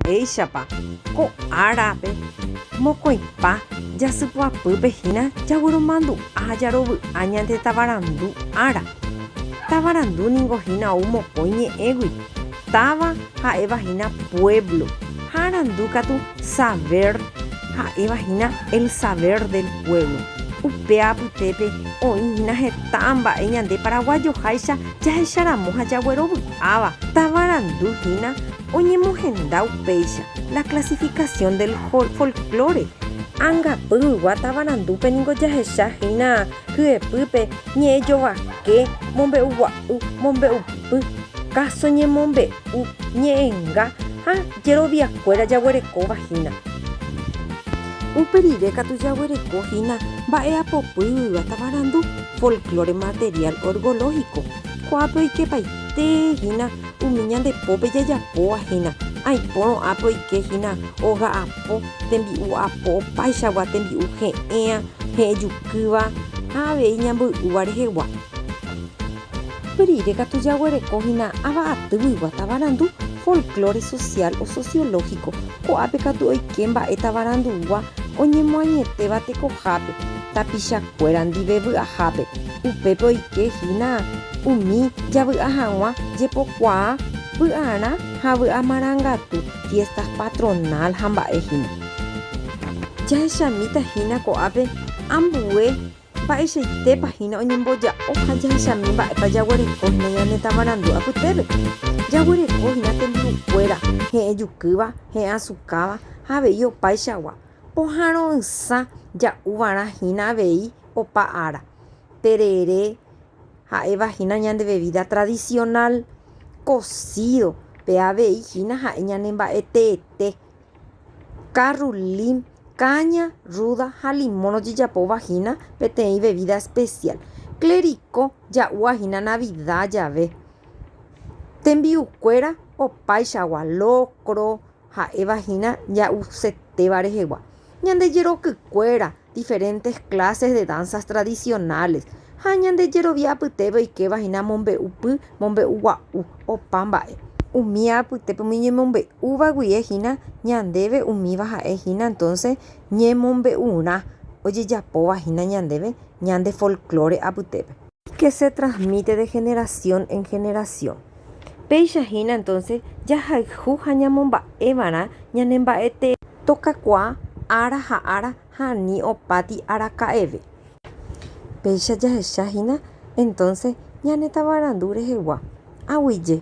Mba'éichapa ko árape mokõipa jasypy'apýpe hína jagueromandu'a jarovy'a ñande tavarandu ára. Tavarandu ningo hína ou mokõi ñe'ẽgui. Táva ha'éva hína puévlo ha arandu katu savér ha'éva hína el saber del pueblo. Upe apytépe oĩ hína heta mba'e ñande paraguajoháicha jahecharamo ha jaguerovy'áva. Tavarandu hína. Oñemohenda upéicha La clasificación del folklore. Angapy ygua tavarandupe ningo jahecha hína hyepýpe ñe'ẽ jovake, mombe'u gua'u, mombe'u py, káso ñemombe'u, ñe'ẽnga ha jeroviakuéra jaguerekóva hína. Upe rire katu jaguereko hína mba'eapopy ygua tavarandu, folklore material orgológico. Ko'ápe oikepaite hína Umi ñande pópe jajapóva hína, aipórõ ápe oike hína oga'apo tembi'u apo opáichagua tembi'u he'ẽa, he'ejukýva ha avei ñamboy'úva rehegua. Pe rire katu jaguereko hína ava atyguigua tavarandu folklore social o sociológico, ko'ápe katu oike mba'e tavarandu'úva oñemoañetéva tekohápe, tapicha kuéra ndive vy'ahápe, upépe oike hína umi javy'a haguã jepokuaa vy'arã ha vy'a marangatu, fiestas patronal ha mba'e hína. Jahechamíta hína ko'ápe ambue mba'eichaitépa hína oñemboja'o ha jahechami mba'épa jaguereko hína ñane tavarandu apytépe. Jaguereko hína tembi'u kuéra he'ẽ jukýva, he'ẽ asukáva ha avei opaichagua, Pohãro'ysã ja'u va'erã hína avei opa ára, terere ha'éva hína ñande vevída tradisionál, kosído pe avei hína ha'e ñane mba'e teete, karrulím, káña, rúda ha limón ojejapóva hína peteĩ vevída espesiál. Klerikó ja'úva hína navida jave. Tembi'ukuéra opaichagua, lokro, Ha'éva hína ja'usetéva rehegua, ñande jerokykuéra, diferentes clases de danzas tradicionales, ha ñande jerovia apytépe oikéva hína mombe'u py, mombe'u gua'u, opa mba'e. Umi apytépe umi ñemombe'úva guie hína ñandéve umíva ha'e hína entonces ñemombe'urã ojejapóva hína ñandéve ñande folklore apytépe. que se transmite de generación en generación. Péicha hína entonces jahayhu ha ñamomba'eva'erã ñane mba'e tee. Tokakuaa ára ha ára ha ani opáti araka'eve. Péicha jahecha hína entonces ñane tavarandu rehegua, aguije.